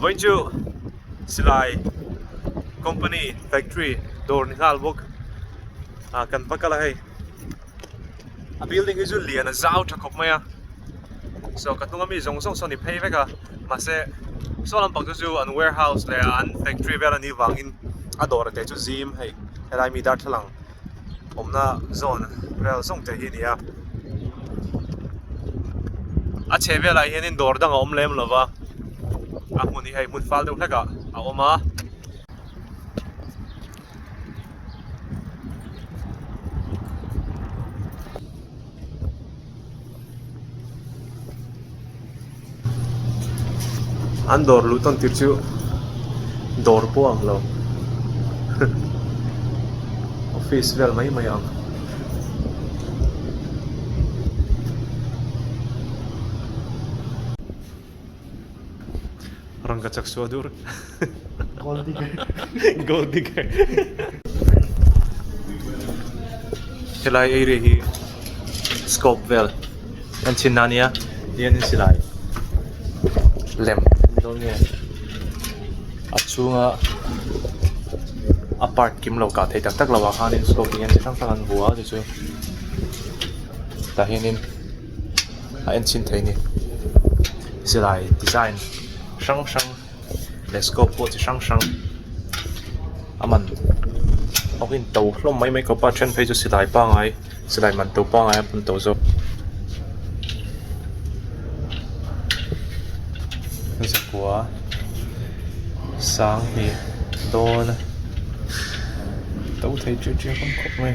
Vawi chu silai company factory dawr ni nghal bawk a kan va kal a hei a building hi chu lian a zau tha khawp mai a so ka hnunga mi zawng zawng saw ni phei vek a mahse saw lampang te chu an warehouse leh an factory vel a nih vangin a dawr te chu zim hei helai mi darthlalang-- awmna zone vel zawng te hi a ni a a chheh velah hianin dawr dang a awm lem lo va a hmun hi hei hmun fal deuh hlekah a awm a an dawr luh tawn tir chu dawr pawh ang lo office vel mai mai ang Rangka chak suah dur. Gold digger. Gold digger. Helai area hi scope vel. An chin na nia. Hian in silai. Lem. Lo nge. A chunga apart kim lo ka thei tak tak lo a khan in scope hian chi hrang hrang an vuah a ti chu. Tah hian in. a enchhin theih ani silai design hrang hrang leh scope pawh chi hrang hrang a man awkin to hlawm mai mai kawpa then phei chu silai pangai silai man to pangai a bun tawh zawk zakua sanghnih dawn to thei thui thui a awm khawp mai.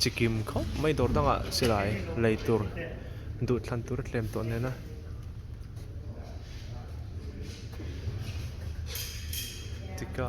chi kim khawp mai dawr dangah silai lei tur duh thlan tur a tlem tawh nen a. Tika.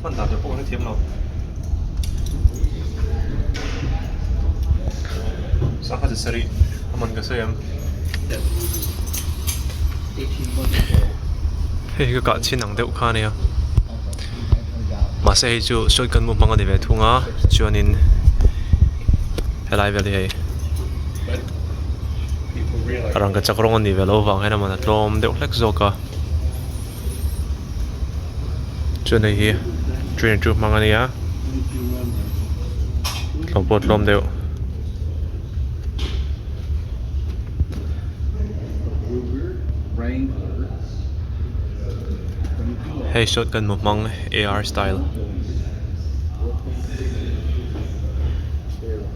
hman dan teh pawh kan thiam lo sangha chi sarih a man ka sawi ang hei hi ka kah chhin ang deuh kha nia mahse hei chu sawi kan hmu hmang a ni ve thung a chuanin helai vel hi hei. a rangkachak rawng a nih ve loh vang hian a man a tlawm deuh hlek zawk a chuan hei hi train chu hmang a nia tlawm pawh tlawm deuh.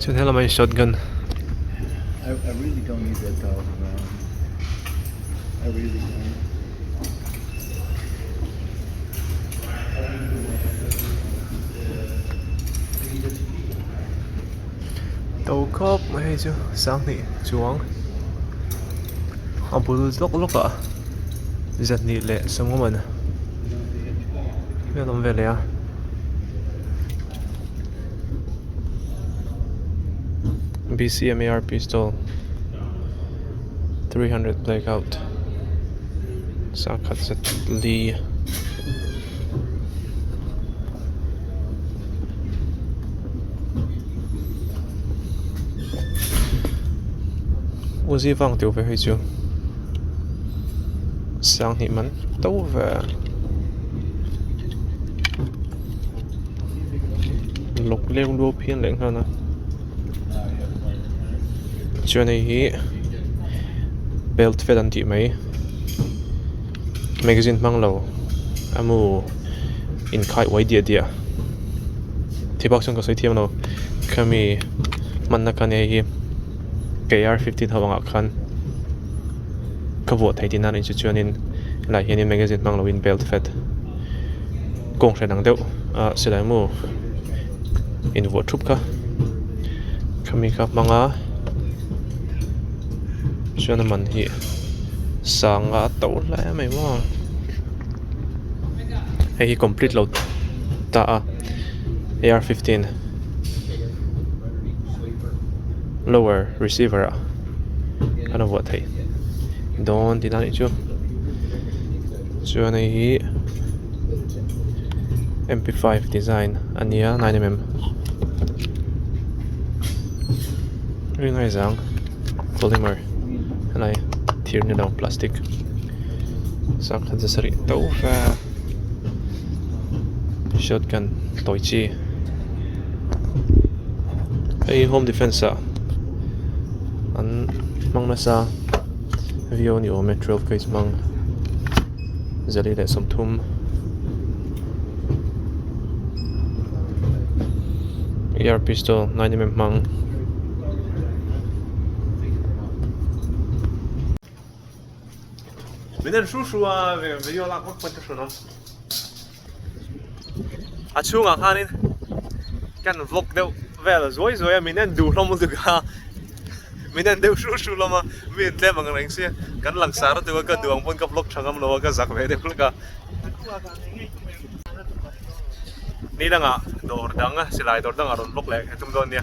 chuan he lamah hian shot gun -- to khawp mai hi chu sanghnih chuang a bul zawk lawk ah zahnih leh sawnglamna hian a awm ve leh a. sakhat zet li u zivang teuh ve hi chu siang hnih man to ve a lawk lek luau phian leh nghal a. chuan hei hi belt fel an tih mai magazine hmang lo amu inkhai uai diah diah thli bak chuan ka sawi thiam lo khami hmanna khan hei hi kr fifteen ho angah khan ka vuah thei tih nan ri chu chuan in lah hian in magazine hmang lo in belt fet. Kawng hriat ang deuh a silai mu in vuah thup kha khami kha hmang a chuan a man hi sang a to hlai mai maw hei hi complete lo ta a ar fifteen lower receiver ah khan a vuah theih dawn tih dan ih chu. chuan hei hi M P five design a nia nine mm ri ngai zang polymer helai thir ni lo plastic sang khat za sarih tho fa shotgun tawi chi hei home defence ah an hmang nasa. viau ni awm e twelve case hmang zali leh sawmthum ear pistol nine mm hmang min en hru hru a video lak vak pahin ka hre lo. a chhungah khanin kan vlog deuh vel zuai zuai a min en duh hlawm lutuk a min en deuh hru hru hlawm a mi in tlem ang reng si kan langsar lutuk a ka duh ang pawn ka vlog tha ngam lo a ka zak ve deuh hlek a ni langa dawr dang a silai dawr dang a rawn vlog leh thei thung dawn nia